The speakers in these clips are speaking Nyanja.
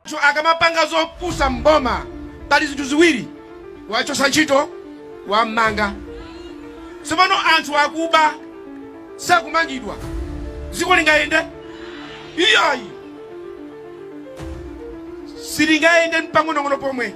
Anthu akamapanga zopusa mboma pali zinthu ziwiri wachosa ntchito wammanga tsopano anthu akuba sakumangidwa dziko lingayende iyayi silingayende mpang'onong'ono pomwe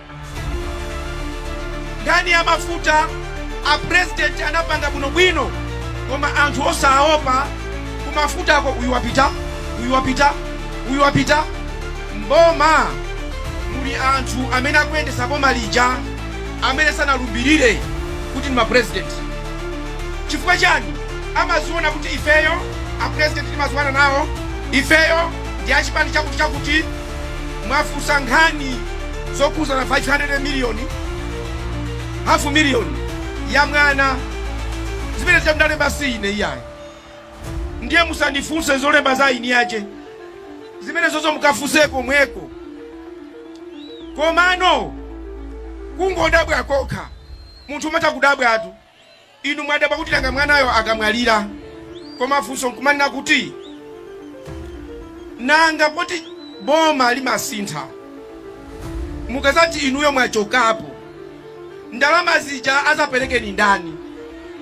Nkhani ya mafuta a president anapangana bwino bwino koma anthu osaopa kumafutako uyu wapita uyu wapita uyu wapita mboma muli anthu amene akuyendesa boma lija amene sanalumbirire kuti ndi ma president chifukwa chani amaziona kuti ifeyo a president timaziwana nawo ifeyo ndi achipani chakuti chakuti mwafunsa nkhani zokhuzana 500 miliyoni hafu miliyoni ya mwana zimenezo amdalemba si ine iyayi ndiye musandifunse zolemba za eni ace zimenezozo mukafunse komweko komano kungodabwa kokha munthu umatha kudabwatu Inu mwadabwa kuti nanga mwanayo akamwalira, koma funso nkumanena kuti nanga poti boma limasintha, mukazati inuyo mwachokapo, ndalama zija azapereke ni ndani?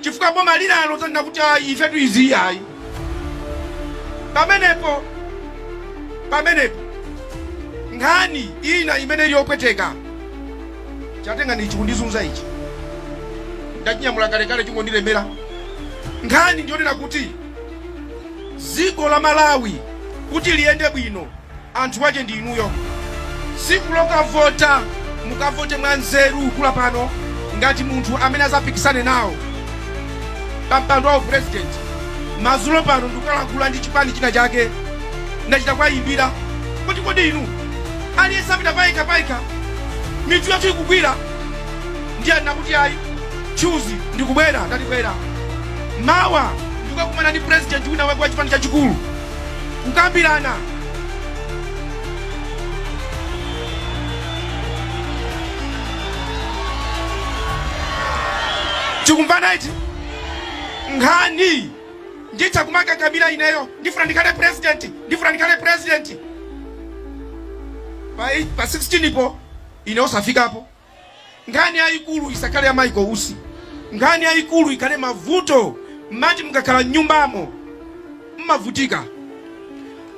Chifukwa boma linalo zanena kuti ayi, ifetu izi ayi. Pamenepo pamenepo nkhani ina imene ili yopweteka Chatengani ichi kundizunza ichi ndachinyamula kalekale chingondilemera. Nkhani ndiyonena kuti dziko la Malawi kuti liyende bwino anthu ake ndi inuyo. Tsiku lokavota mukavote mwa nzeru kula pano ngati munthu amene azapikisane nawo pa mpando wa u president. Madzulo pano ndikukalankhula ndi chipani china chake ndachita kuwayimbira kuti kodi inu Aliyense apita payekha payekha, mitu yathu ikugwira. Ndiye anena kuti ayi, Chuzi, ndikubwera, ndati bwera mawa ndikukakumana ndi president wina wake wa chipani chachikulu kukambirana tikumvana ichi nkhani nditha kumakakamira ineyo ndifuna ndikhale president ndifuna ndikhale president pa 16 po ine osafikapo nkhani yayikulu isakhale ya Michael Usi nkhani yayikulu ikhale mavuto mmati mukakhala mnyumbamo mmavutika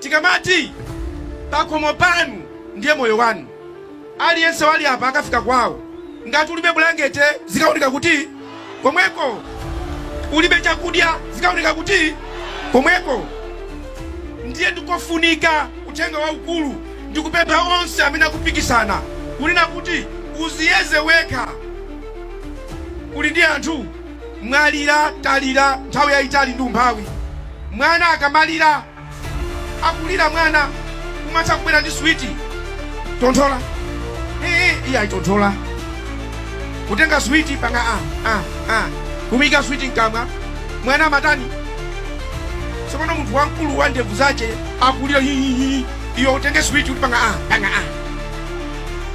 tikamati pakhomo panu ndiye moyo wanu Aliyense wali apa akafika kwawo. Ngati ulibe bulangete, zikawoneka kuti komweko. Ulibe chakudya, zikawoneka kuti komweko. Ndiye ndi kofunika uthenga waukulu ndi kupempha onse amene akupikisana kunena kuti uziyeze wekha. Uli ndi anthu mwalira, talira nthawi yayitali ndi umphawi. Mwana akamalira. akulira mwana umatha kubwera ndi switi tonthola ee iyayi tonthola kutenga switi panga a a a kumuika switi mkamwa mwana amatani tsopano munthu wamkulu wa ndevu zace akulira hihihi iyo utenge switi uti panga a panga a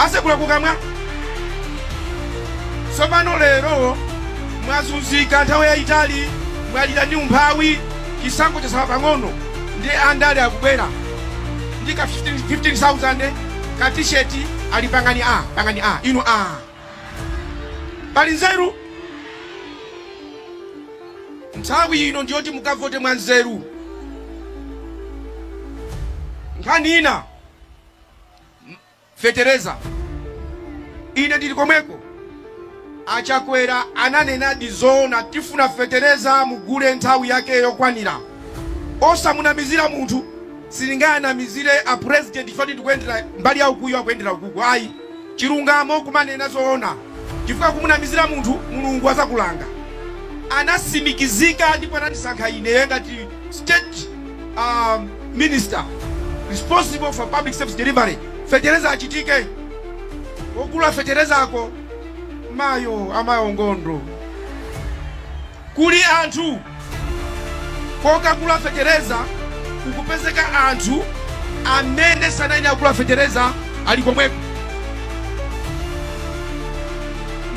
asekula kukamwa tsopano lero mwazunzika nthawi yayitali mwalira ndi umphawi Chisankho chatsala pang'ono nde andale akubwera ndi ka 15,000 ka t-shirt ali pangani a pangani a inu a pali nzeru nthawi ino ndiyoti mukavote mwa nzeru nkhani ina M- fetereza. Ine ndili komweko. A Chakwera ananenadi zoona tifuna fetereza mugule nthawi yake yokwanira. Osamunamizira munthu sindingawanamizire a president chifukwa choti ndikuyendera mbali ya ukuyo akuyendera ukuku ayi. Chilungamo kumanena zoona chifukwa kumunamizira munthu Mulungu azakulanga. Anasimikizika ndipo anatisankha ine ngati State minister responsible for public service delivery fetereza achitike ogula fetereza ako mayo mayo ngondo kuli anthu kokagula fetereza kukupezeka anthu amene sanasayine akugula fetereza ali komweko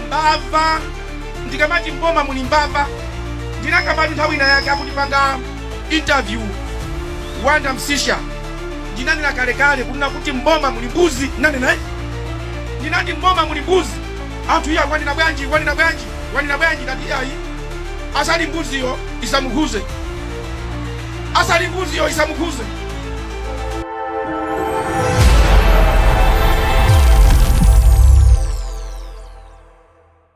mbava Ndikamati m'boma muli mbava ndinakambatu nthawi ina yake akundipanga interview Wonder Msiska. Ndinanena kalekale kunena kuti m'boma muli mbuzi, ndinanena eh? Ndinati m'boma muli mbuzi, anthu iya wanena bwanji, wanena bwanji, wanena bwanji, ndati ayi asali mbuziyo isamukhudze, asali mbuziyo isamukhudze.